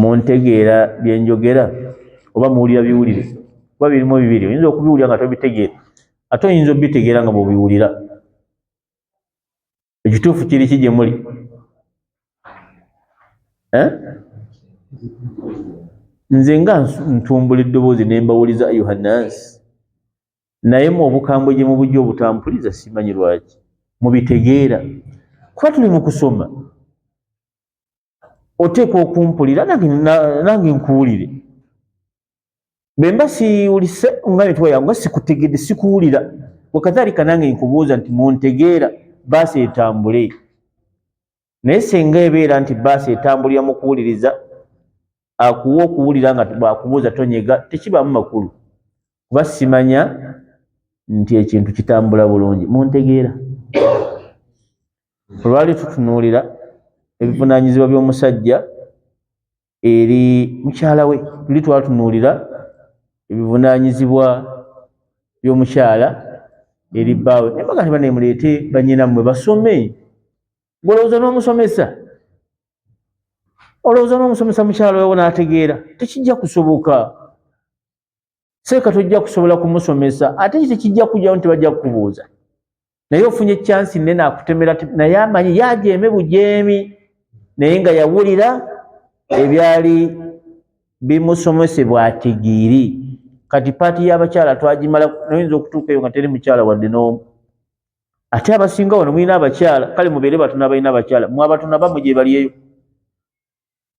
muntegeera byenjogera oba muwulira biwulire kuba birimu bibiri oyinza okubiwulira nga tobitegeera ate oyinza obitegeera nga bwebiwulira ekituufu kiri ki gye muli eh? nze nga ntumbula eddoboozi ne mbawuliza ayuha nansi naye mu obukambwe gye mubujja obutampuliza simanyi lwaki mubitegeera kuba tuli mu kusoma oteekwa okumpulira nange nkuwulire bwemba siwulise nga netwayangu nga sikutegedde sikuwulira wekathalika nange nkubuuza nti muntegeera baasi etambule naye senga ebeera nti baasi etambulira mu kuwuliriza akuwa okuwulira nga bwakubuuza tonyega tekibaamu makulu kuba simanya nti ekintu kitambula bulungi muntegeera olwali tutunuulira ebivunaanyizibwa by'omusajja eri mukyala we tuli twatunuulira ebivunaanyizibwa by'omukyala eri bbaawe naye baga ne banemuleete banyinammwe basome ngolowooza n'omusomesa olowooza n'omusomesa mukyala wewo n'ategeera tekijja kusoboka seeka tojja kusobola kumusomesa ate ki tekijja kujjawo nti bajja kukubuuza naye ofunye chansi nene akutemera naye amanyi yajeeme bujeemi naye nga yawulira ebyali bimusomesebwa tigiri kati paati y'abakyala twagimala noyinza okutuuka eyo nga teri mukyala wadde n'omu ate abasinga wano mulina abakyala kale mubeere batuna balina abakyala mwabatuna bamu gye balieyo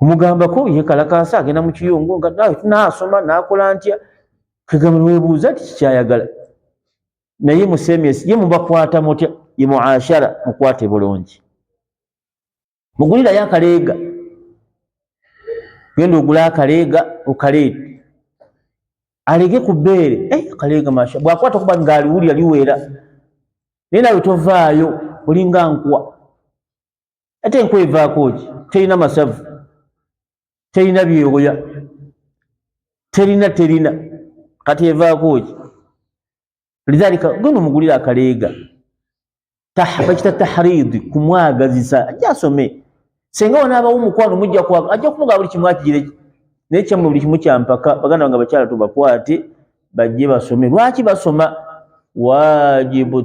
omugambako yekalakaasa agenda mu kiyungu nga nawe tunaasoma naakola ntya kegamba newebuuza nti kikyayagala naye musemes ye mubakwata mutya ye muashara mukwate bulungi mugulirayo akaleega genda ogula akaleega okaleete alege ku bbeere eh, akaleega masha bwakwata okuba nga aliwulira liweera naye nawe tovaayo olinga nkwa ate enku evaako ki terina masavu terina byewoya terina terina kati evaako ki lidhalika gwe nomugulira akaleega bakita tahridi kumwagazisa ajja asome senga wanaabawo omukwano mujja kwaga ajja kumugaa buli kimu akigireki naye kyamwe buli kimu kyampaka baganda bange abakyala tubakwate bajje basome lwaki basoma wajibu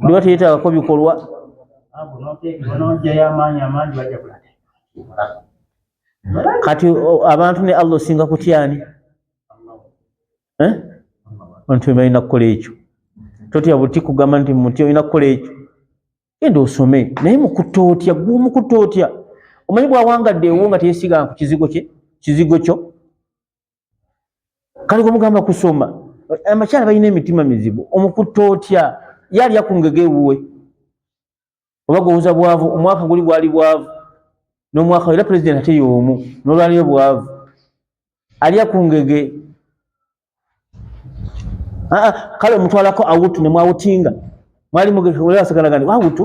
dduwa teyeetagako bikolwa kati abantu ne allah osinga kutyani eh? anti balina kukola ekyo totya buti kugamba nti muti olina kukola ekyo genda osome naye mukuta otya gwomukuta otya omanyi bwawangadde ewo nga teyesiga ku kizigo kye kizigo kyo kale gwemugamba kusoma abakyala balina emitima mizibu omukutta otya yalya ku ngege ewuwe oba gwowoza bwavu omwaka guli gwali bwavu n'omwaka era pulezidenti ate y'omu n'olwaliyo bwavu alya ku ngege kale omutwalako awutu nemwawutinga mwali mugeasagala gandi wawutu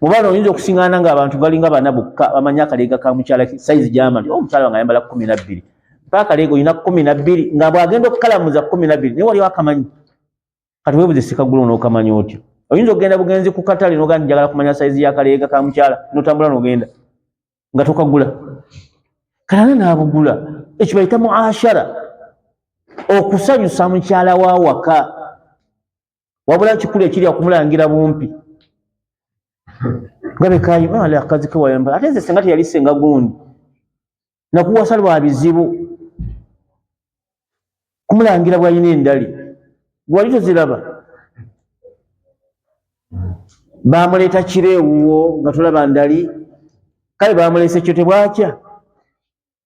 mubano oyinza okusingana nga abantu balinga bana bokka bamanyi akaleega ka mukyala saizi gyamali o oh, mukyala wange ayambala kumi nabbiri pa akaleega olina kumi nabbiri nga bwagenda okukalamuza kumi nabbiri naye waliwo akamanyi kati webuze sikagula onookamanya otyo oyinza okugenda bugenzi ku katale noga njagala kumanya saizi yakaleega ka mukyala notambula nogenda nga tokagula kalala naabugula ekyo bayita muashara okusanyusa mukyala wa waka wabula kikulu ekiri akumulangira bumpi nga bekayimale akazi kewayamba ate nze senga teyali senga gundi nakuwasa lwa bizibu kumulangira bwalina endali gwali toziraba bamuleeta kiro ewuwo nga tulaba ndali kale bamuleese kyo tebwakya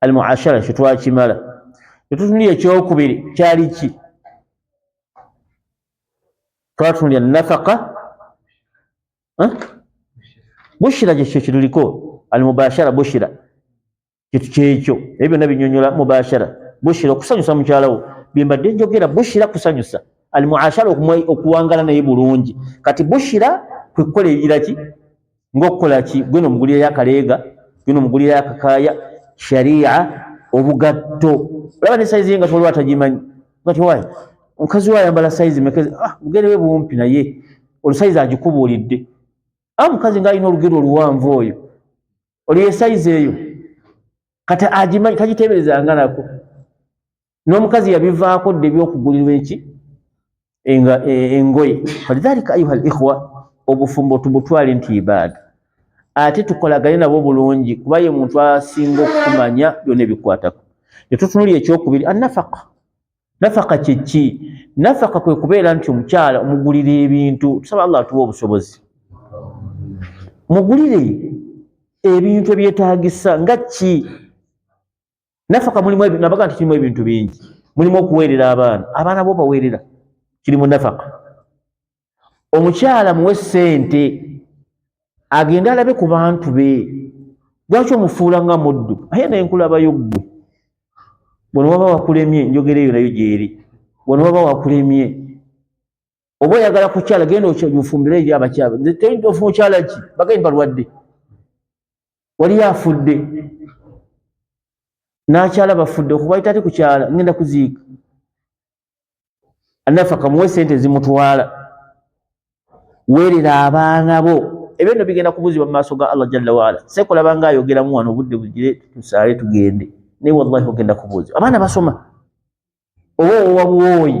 al muashara kyo twakimala etutunulira ekyokubiri kyali ki twatunulira nafaka bushira kyekyo kituliko al mubashara bushira kitu kyekyo ebyo byonna binyonyola mubashara bushira okusanyusa mukyalawo byembadde njogera bushira kusanyusa al muashara okuwangala naye bulungi kati bushira kwekukola ebiraki ng'okukola ki gwena omugulirayo akaleega gwena omugulirayo akakaaya sharia obugatto olaba ne sayizi ye nga tewaliwo atagimanyi gati wayi omukazi we ayambala sayizi mekeze ah, mugere we bumpi naye olusayizi agikubuulidde a ah, mukazi ng'alina olugero oluwanvu oyo olyo ye sayizi eyo kati agimanyi tagiteeberezanga nako n'omukazi yabivaako dda ebyokugulirwa eki e, engoye falidhalika ayuha al ikhwa obufumbo tubutwale nti ibaada ate tukolagane nabo bulungi kuba ye muntu asinga okumanya byona ebikwatako netutunuli ekyokubiri anafaka nafaka kyeki nafaka kwe kubeera nti omukyala omugulira ebintu tusaba allah atuwa obusobozi mugulire ebintu ebyetagisa nga ki nafaka mulimu ebintu nabaga nti kirimu ebintu bingi mulimu okuweerera abaana abaana bo baweerera kiri mu nafaka omukyala muwe sente agende alabe ku bantu be lwaki omufuula nga muddu aye naye nkulabayo ggwe bwona waba wakulemye njogera eyo nayo gyeri bwona waba wakulemye oba oyagala kukyala genda omufumbire eyo abakyala tofuna okyala ki bagaini balwadde waliyo afudde nakyala bafudde okubaita ati kukyala ngenda kuziika anafa kamuwe sente zimutwala werera abaana bo ebyo no bigenda kubuzibwa mu maaso ga allah jalla waala sekulaba nga ayogeramu wano obudde bugire tusaale tugende naye wallahi ogenda kubuuzibwa abaana basoma oba owabuwooyi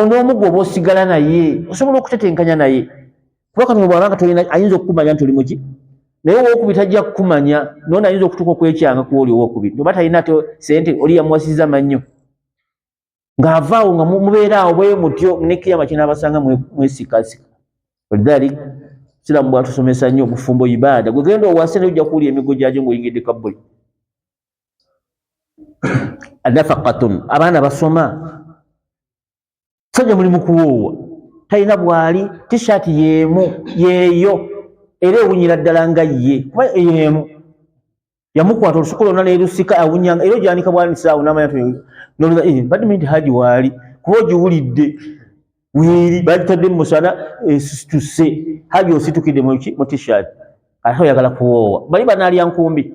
ono omu gwoba osigala naye osobola okutetenkanya naye kuba katono bwaba nga tolina ayinza okukumanya nti oli muki naye owokubiri tajja kukumanya nona ayinza okutuuka okwekyanga ku oli owokubiri noba talina te sente oli yamuwasiza mannyo ng'avaawo nga mubeeraawo bwe mutyo nekiyama kinaabasanga mwesikasika olidali siramu bwatusomesa nnyo obufumbo ibaada gwegenda owase naye ojja kuwulira emigo gyajo ngaoyingidde kabbuli nafaqatun abaana basoma sajja mulimu kuwoowa talina bwali tishaati yeemu yeeyo era ewunyira ddala nga ye kuba yeemu yamukwata olusuku lwonna nelusika awunyanga era ogyanika bwanisaawo namanya eh, badde minti haji waali kuba ogiwulidde weeri bagitadde mumusana esituse eh, haji ositukidde mu tishaati ate oyagala kuwoowa bali banaalya nkumbi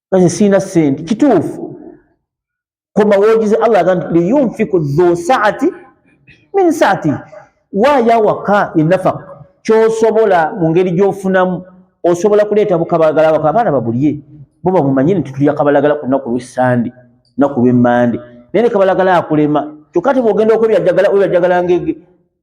kazi sina sente kituufu koma wogize allah agamba nti liyunfiku dhu saati min saati waaya waka enafaka kyosobola mu ngeri gyofunamu osobola kuleeta bukabalagala waka abaana babulye bo bamumanyi nti tulya kabalagala ku lunaku lwesande lunaku lwemande naye ne kabalagala akulema kyokka te bwogenda okwebyajagala webyajagala ngege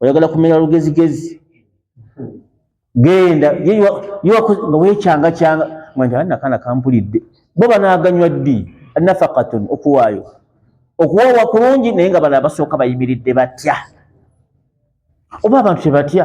oyagala kumera lugezigezi genda nga wekyangakyanga nakana kampulidde bo banaganywa ddi nafakatun okuwaayo okuwoowa kulungi naye nga bano abasooka bayimiridde batya oba abantu tebatya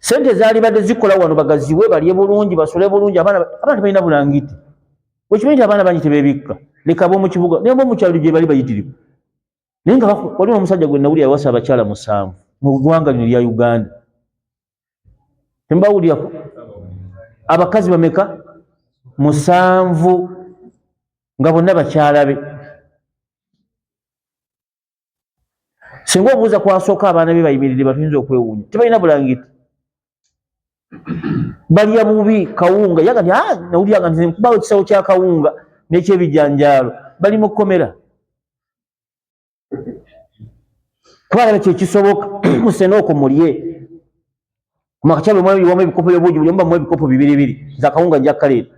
sente zalibadde zikola wano bagaziwe balye bulungi basole bulungi abaana abantu balina bulangiti wekimanyi nti abaana bangi tebebikka leka abomukibuga naye bomukyalo gyebali bayitirivu naye nga waliwo omusajja gwe nawulira yawasa abakyala musanvu mu ggwanga lino lya uganda tembawulirako abakazi bameka musanvu nga bonna bakyala be singa obuuza kwasooka abaana be bayimiridde batuyinza okwewuunya tebalina bulangiti balya bubi kawunga yagati ah, nawulyanga nti nkubawo ekisawo kya kawunga n'ekyebijanjaalo bali mu kkomera kubanga kyekisoboka musena okwo mulye makakyabwe mwamu ebikopo byobuugi buli omu bamu ebikopo bibiri biri nze akawunga njakkaleeta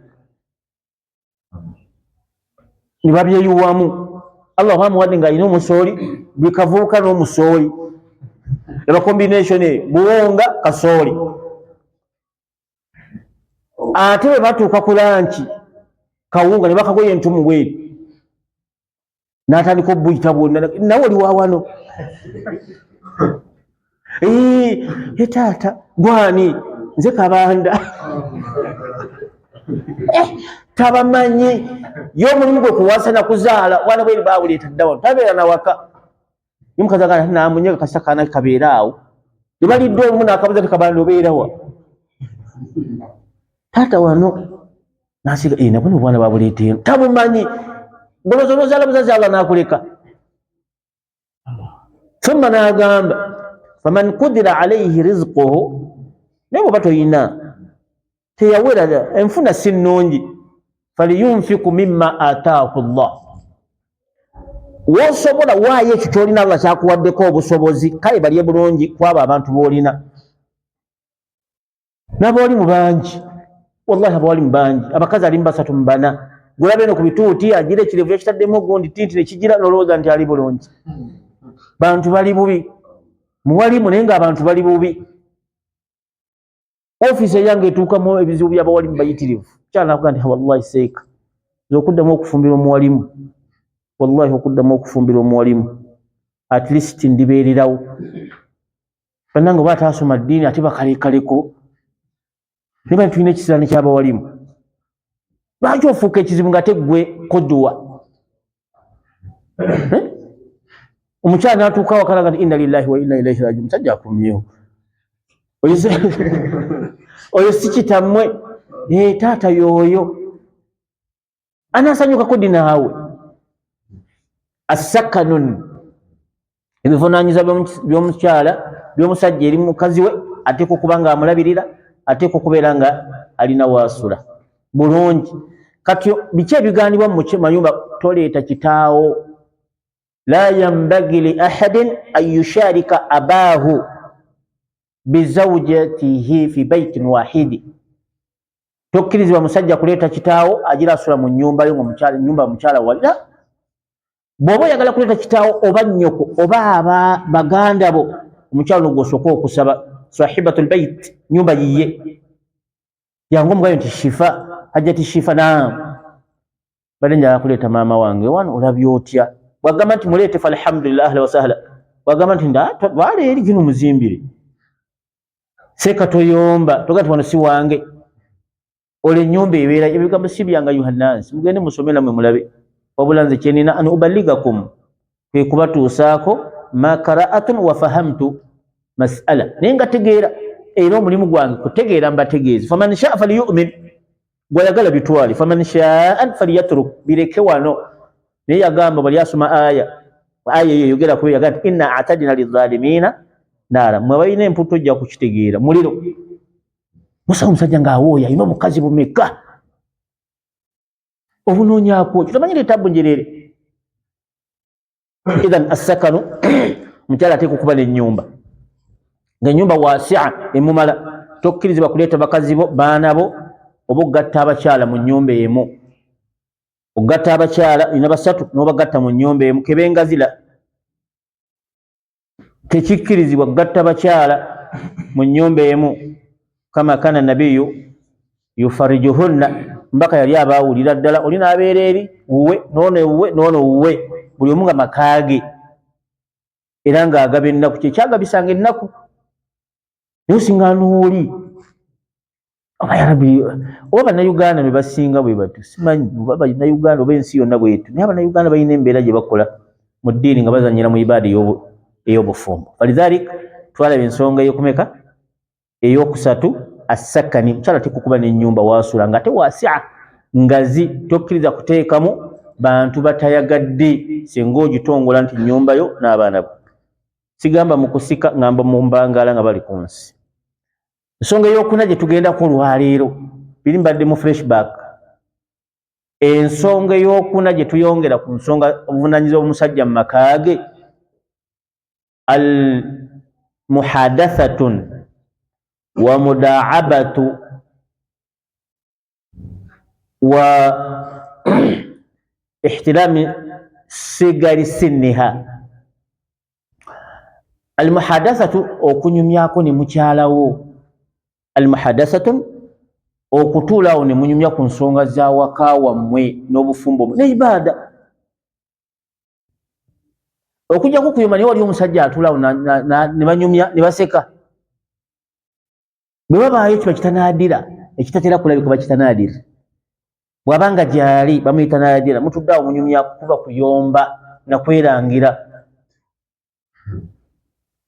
ne babyeyuwamu allah oba amuwadde ng'alina omusooli buli kavubuka n'omusooli eba combination eyo buwunga kasooli ate bwe batuuka ku lanki kawunga ne bakagoye entumu bweri natandika obuyita bwonna nawe oli wawano e taata gwani nze kabanda eh, tabamanyi ye omulimu gwe kuwasa nakuzaala wana bweri bawuleeta ddawa tabeera nawaka Omukazi agamba nti namunyaga kasita kaana kabeera awo. Ne balidde olumu n'akabuza nti kabanda obeera wa? Taata wano n'asiga ee eh, nabona obwana babuleeteemu tabumanyi goloza onozaala buzazi Allah n'akuleka. Thumma n'agamba faman kudira alaihi rizquhu naye bw'oba toyina teyawera enfuna si nnungi faliyunfiku mima ataahu llah wosobola waayo ekyo kyolina allah kyakuwaddeko obusobozi kale balye bulungi kwabo abantu boolina nabaoli mubangi wallahi abaoli mubangi abakazi alimu basatu mubana gulabe eno ku bituuti agira ekirevu yakitaddemu ogundi tinti nekigira nolowooza nti ali bulungi bantu bali bubi muwalimu naye nga abantu bali bubi ofiisi eyange etuukamu ebizibu by'abawalimu bayitirivu kyanakuga nti wallahi seeka nze okuddamu okufumbira omuwalimu wallahi okuddamu okufumbira omuwalimu at least ndibeererawo banange oba ataasoma ddiini ate bakalekaleko naye bani tulina ekisiraani ky'abawalimu lwaki ofuuka ekizibu nga teggwe koduwa Eh? omukyala natuuka wakalaga nti inna lillahi wa inna ilaihi raji omusajja akomyewo oyo si kitammwe eh, taata yooyo anasanyukako dinaawe assakanun ebivunaanyiza by'omukyala by'omusajja eri mukazi we ateekwa okuba nga amulabirira ateekwa okubeera nga alina waasula bulungi kati biki ebigaanibwa mu mayumba toleeta kitaawo la yambagi li ahadin an yusharika abaahu bizaujatihi fi baitin wahidi tokkirizibwa musajja kuleeta kitaawo agira asula mu nyumba yo nyumba mukyala walira bwoba oyagala kuleeta kitaawo oba nnyoko oba aba baganda bo omukyalo no gwosooka okusaba sahibatu lbait nyumba yiye yange omugayo nti shifa hajjati shifa naamu bade njagala kuleeta maama wange wano olabye otya bwagamba nti muleete falhamdulillah ahla wasahla bwagamba nti ndwala eri gino muzimbire seeka toyomba toga nti wano si wange olwo enyumba ebeera ebigambo si byanga yuhanansi mugende musome namwe mulabe wabula nze kyenina an ubaligakum kwe kubatuusaako makaraatun wafahamtu masala naye nga tegeera era omulimu gwange kutegeera mbategeezi faman shaa faliyumin gwayagala bitwale faman shaan faliyatruk bireke wano naye yagamba bali asoma aya aya eyo yogera kuyo yagaa ti inna atadina lizalimiina naara mwe abalina emputu ojja kukitegeera muliro musa omusajja ng'awooya alina obukazi bumeka obunoonyakwoki tomanyi leetabu njereere idhan assakano omukyala ateeka okuba n'ennyumba ng'ennyumba wasia emumala tokkirizibwa kuleeta bakazi bo baana bo oba okugatta abakyala mu nnyumba emu okugatta abakyala ina basatu n'obagatta mu nnyumba emu kebenga zila tekikkirizibwa kugatta bakyala mu nnyumba emu kama kana nabiyu yufarijuhunna mbaka yali abaawulira ddala oli n'abeera eri wuwe noono ewuwe noono wuwe buli omu nga makaage era ng'agaba ennaku kyekyagabisanga ennaku naye osinga nooli oba yarabi oba banauganda bebasinga bwebatu simanyi oba banauganda oba ensi yonna bwetu naye abanauganda balina embeera gye bakola mu ddiini nga bazanyira mu ibaada ey'obufumbo falidhalik twalaba ensonga eyokumeka eyokusatu assakani mukyala tekukuba n'enyumba wasula nga ate wasia ngazi tokkiriza kuteekamu bantu batayagadde singa ogitongola nti nyumba yo n'abaana bo sigamba mu kusika ngamba mu mbangaala nga bali ku nsi ensonga eyokuna gye tugendako olwaleero biri mbadde mu freshback ensonga eyokuna gye tuyongera ku nsonga obuvunanyiza obumusajja mu maka ge al muhadathatun wa mudaabatu wa ihtilami sigari siniha almuhadathatu okunyumyako ne mukyalawo almuhadathatu okutuulawo ne munyumya ku nsonga za waka wammwe n'obufumbo ne ibaada okujjako kuyoma naye wali omusajja atuulawo ne banyumya ne baseka bwe wabaayo kiba kitanaadira ekitatera kulabika ba kitanaadira bw'aba nga gyali bamuyitanaadira mutudde awo munyumya kukuba kuyomba na kwerangira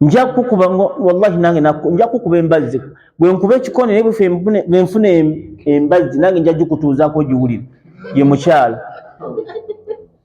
nja kukuba wallahi nange nja kukuba embazzi bwe nkuba ekikone naye bwe nfuna embazzi nange nja gikutuuzaako giwulire ye mukyala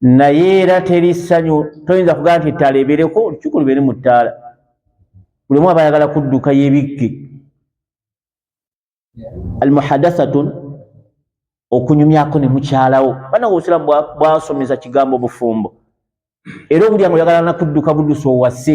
naye era teri ssanyu toyinza kugaa nti ettaala ebeereko olukiiko lubeere mu ttaala buli omu aba ayagala kudduka yebikke almuhadasatun okunyumyako ne mukyalawo banange obusiraamu bwasomesa kigambo bufumbo era obulyango oyagala nakudduka budusa owase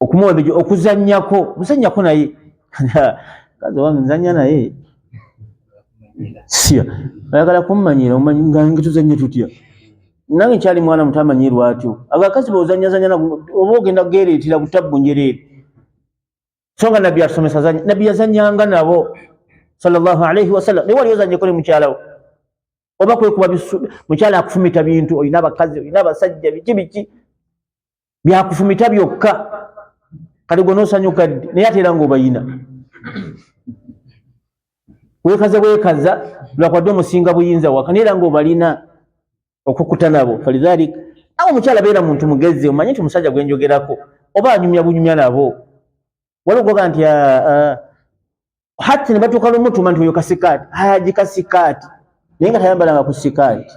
okumuwa ebijo okuzanyako muzanyako naye kazi wange nzanya naye siya ayagala kummanyira omanyi nga ngetuzanye tutya nange nkyali mwana muto amanyirwa atyo agakazi bozanyazanya oba ogenda gereetira ku tabbu njereere so nga nabbi asomesa zanya nabbi yazanyanga nabo salllahu alaihi wasallam naye wali ozanyeko ne mukyalawo oba kwekuba mukyala akufumita bintu olina abakazi olina abasajja biki biki byakufumita byokka kati gwe nosanyuka ddi naye ate era ngaobayina wekaza bwekaza lwakwadde omusinga buyinza waka naye era ngaobalina okukuta nabo falidhalik awo omukyala beera muntu mugezi omanye nti omusajja gwenjogerako oba anyumya bunyumya nabo waligoga nti ah, ah, hati nebatuuka lumutuma nti oyo kasikaati haji kasikaati naye nga tayambalanga ku sikaati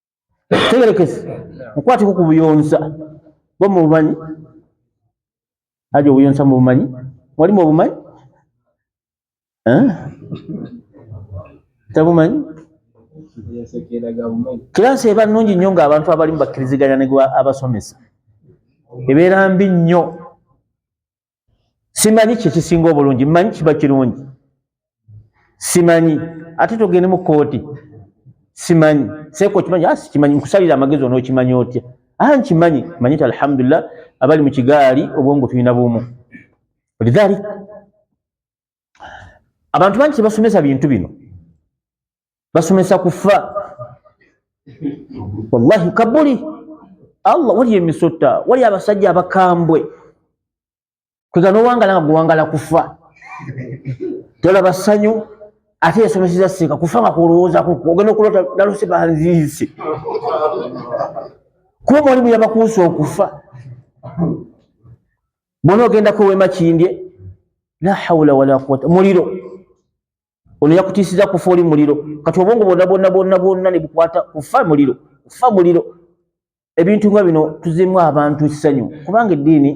tegerekese mukwatiko ku buyonsa bwo mu bumanyi aja obuyonsa mu bumanyi walimu obumanyi eh? tabumanyi kiransi eba nungi nnyo nga abantu abalimu bakkiriziganya ne abasomesa ebeera mbi nnyo simanyi kyekisinga obulungi manyi kiba kirungi simanyi ate togende mu kooti simanyi seeko kimanyi ah, sikimanyi nkusalira amagezi onookimanyi otya a ah, nkimanyi manyi ti alhamdulillah abali mu kigaali obwongo tulina bumu lidhalik abantu bangi tebasomesa bintu bino basomesa kufa wallahi kabuli allah wali emisota wali abasajja abakambwe kwegana owangala nga gwewangala kufa tolaba ssanyu ate yasomeseza seeka kufa nga kulowoozaku ogenda okulota nalose banziise kuba mwalimu yabakuusa okufa bona ogenda kuwema kindye la hawula wala quwata muliro ono yakutisiza kufa oli muliro kati obwongo bwonna bwonna bwonna bwonna ne bukwata kufa muliro kufa muliro ebintu nga bino tuzemu abantu essanyu kubanga eddiini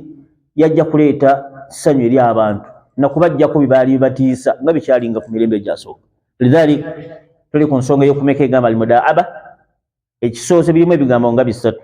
yajja kuleeta ssanyu eri abantu nakubajjako byebaali bibatiisa nga bikyalinga ku mirembe egyasooka lidhalik tuli ku nsonga eyokumeka egamba almudaaba ekisooze birimu ebigambo nga bisatu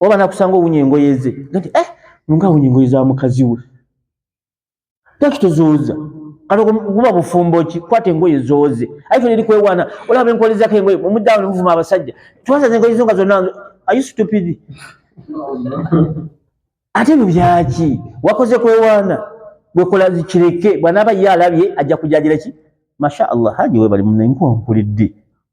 oba nakusanga owunya engoye ze nti eh nga awunya engoye za mukazi we takitozooza kati guba bufumbo ki kwata engoye zooze aye fena erikwewana olaba enkolezako engoye omuddawo nemuvuma abasajja twasaza engoye zo nga zonna ayi stupidi ate ebyo byaki wakoze kwewaana bwekola zikireke bwanaaba ye alabye ajja kujajira ki masha allah haji webali munaye nkuwankulidde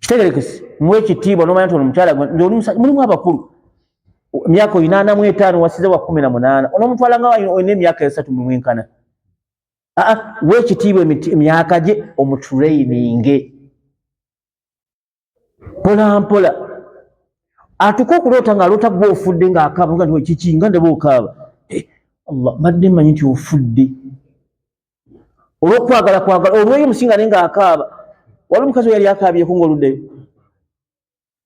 kitegerekese muwe ekitiibwa nomanya nti ono mukyala mulimu abakulu emyaka oyinaana mu etaano wasize wa kumi na munaana onomutwala nga olina emyaka esatu mumwenkana aa wa ekitiibwa emyaka gye omutureyininge mpolampola atuka okuloota nga aloota gwe ofudde ngaakaaba nga nti kiki nga ndeba okaaba eh, allah mbadde manyi nti ofudde olwokwagala kwagala olweyo musinga naye ngaakaaba wali omukazi yali akaabyeko ngaoluddeyo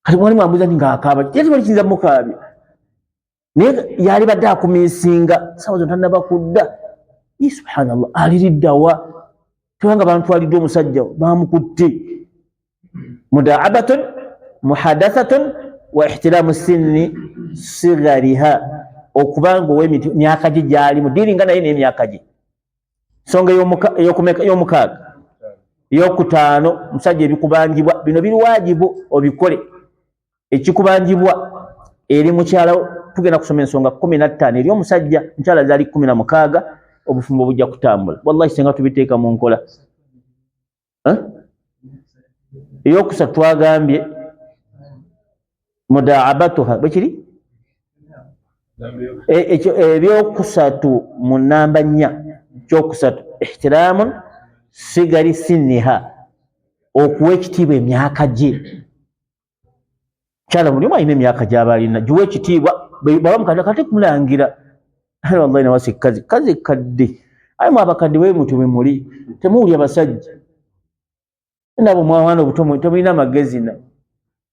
kati mwali mwambuza nti ngaakaaba yatibali kiyinza mukaabya naye yali badde akuminsinga sawa zona tanaba kudda i subhanallah aliriddawa tebanga bantwalidde omusajja bamukutte mudaabatun muhadathatun wa ihtilamu sinni sigariha okubanga owemyaka gye gyalimu diringa naye nemyaka gye nsonga eyomukaaga eyokutaano omusajja ebikubanjibwa bino biri wajibu obikole ekikubanjibwa eri mukyalawo tugenda kusoma ensonga kumi nattaano eri omusajja mukyala zaali kumi na mukaaga obufumbo bujja kutambula wallahi senga tubiteeka mu nkola eyokusatu twagambye mudaabatuha bwekiri e, ekyo ebyokusatu mu namba nnya kyokusatu ihtiraamu sigari siniha okuwa ekitiibwa emyaka gye kyala buli omu alina emyaka gyaba alina giwa ekitiibwa baba mukadde kati kumulangira wallahi nawasa ekkazi kazi ekkadde aye mu abakadde bwe mutyo bwe muli temuwulya basajja nabo mwawana obuto temulina amagezi na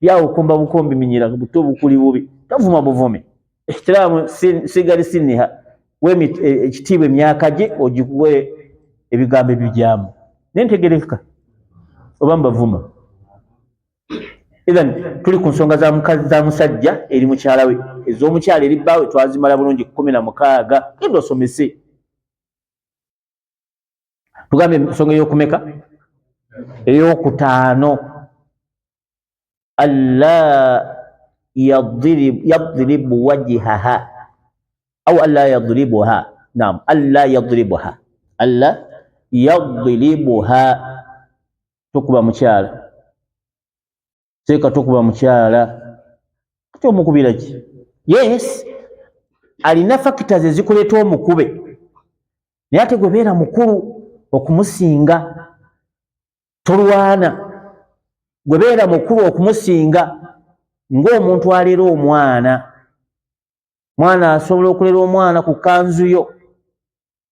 byawo okumba bukombi minyira buto bukuli bubi tavuma buvumi ehtiraamu sigari siniha wemi e, ekitiibwa emyaka gye ogikuwe ebigambo ebibyamu naye ntegerekeka oba mbavuma Ethan tuli ku nsonga za mukazi za musajja eri mukyala we ez'omukyala eri bbaawe twazimala bulungi kumi na mukaaga genda osomese tugambye ensonga ey'okumeka ey'okutaano alla yadribu wajihaha au alla yadribuha nam alla yadribuha alla yadribuha tokuba mukyala seeka tokuba mukyala kati omukubira ki yes alina factors ezikuleeta omukube naye ate gwebeera mukulu okumusinga tolwana gwebeera mukulu okumusinga ng'omuntu alera omwana mwana asobola okulera omwana ku kanzu yo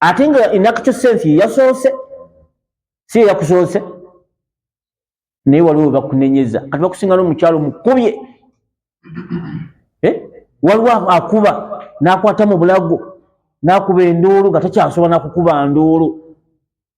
ate nga inacto sense yeyasoose si yeyakusoose naye waliwo webakunenyeza kati bakusinga nomukyalo mukubye eh? waliwo akuba nakwata mu bulago nakuba enduulu nga takyasobola nakukuba nduulu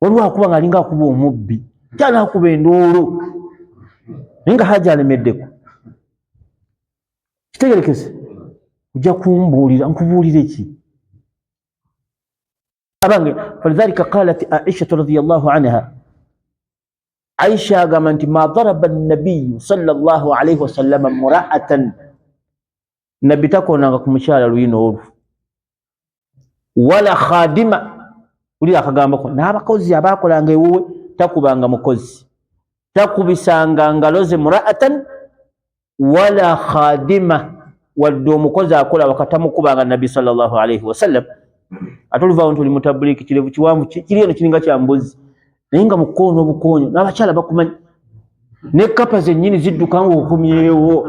waliwo akuba nga alinga akuba omubbi kyala akuba enduulu naye nga haja alemeddeko kitegerekese ojja kumbuulira nkubuulire ki abange falidhalika qalat aishatu radiallahu anha aisha agamba nti ma daraba nabiyu salllah alaihi wasallama muraatan nabbi takonanga ku mukyala luyina olwo wala khadima ulira akagambako n'abakozi abaakolanga ewuwe takubanga mukozi takubisanga ngalo ze muraatan wala khadima wadde omukozi akola wakatamukubanga nabbi salllahu alaihi wasallam ate oluvaawo nti oli mutabuliki kirevu kiwanvu kiri eno kiringa kya mbuzi naye nga mukoono obukoonyo n'abakyala bakumanyi ne kapa zennyini zidduka ngaokomyewo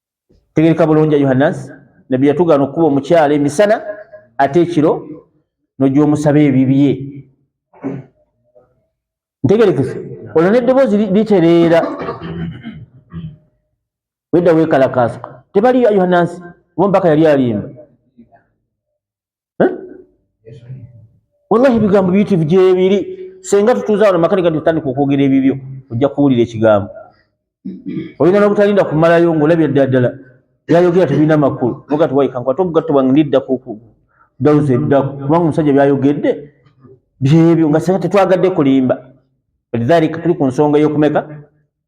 tegereka bulungi ayuhannas nabbi yatugaana okukuba omukyala emisana ate ekiro nogyomusaba ebibye ntegerekese olwo neddoboozi litereera wedda wekalakaasuka tebaliyo ayuhanansi oba omubaka yali alimba wallahi ebigambo biyitivu gyebiri senga tutuuza wano makanika nti tutandika okwogera ebibyo ojja kuwulira ekigambo olina nobutalinda kumalayo ngaolabira ddala ddala byayogera tebirina makulu noga tiwayikankwate obugatto bwange ndidda kudawuza eddaku kubanga omusajja byayogedde byebyo nga senga tetwagadde kulimba lidhalika tuli ku nsonga eyokumeka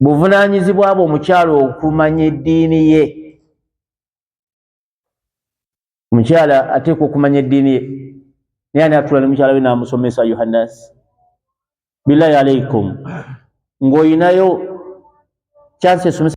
buvunaanyizibwa bwe omukyala okumanya eddiini ye omukyala ateekwa okumanya eddiini ye naye ani atula ne mukyala we n'amusomesa yohannas billahi alaikum ng'olinayo kyansi esomesa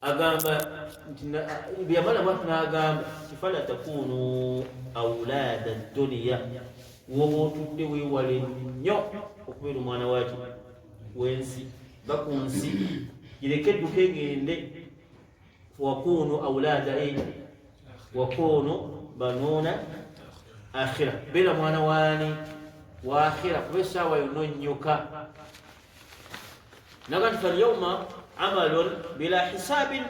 agamba nti yamala bwati n'agamba kifala takunu aulaada duniya woba otudde weewale nnyo okubeera omwana waki wensi va ku nsi gireke edduka egende wakunu aulaada e wakunu banuuna akhira beera mwana waani waakhira kuba essaawa yonna onnyoka naga nti falyauma amalun bila hisabin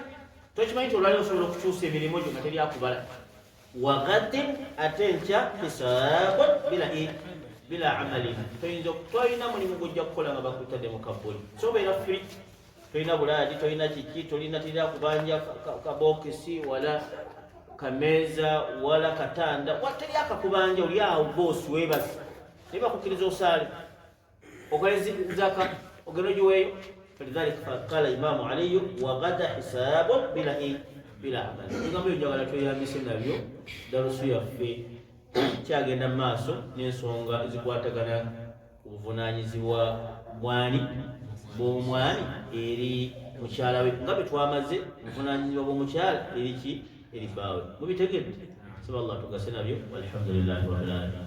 tokimanyi nti olwali osobola okukyusa emirimu gyo nga teryakubala wagadin ate nkya hisabun bila bila amalin toyinza tolina mulimu gujja kukola nga bakutadde mu kabbuli sobeera firi tolina bulaadi tolina kiki tolina tira kubanja kabokisi wala kameeza wala katanda teri akakubanja oli awo boosi webazi naye bakukkiriza osaale ogale zaka ogenda ogiweeyo falidhalika faqala imamu aliyu wagada hisabun bilahi bila amali ebigambo ebyo njagala tweyambise nabyo dalusu yaffe kyagenda mu maaso n'ensonga ezikwatagana ku buvunaanyizibwa bwani bw'omwani eri mukyala we nga bwe twamaze obuvunaanyizibwa bw'omukyala eri ki eri bbaawe mubitegedde saba allah tugase nabyo walhamdulillahi wabilalamin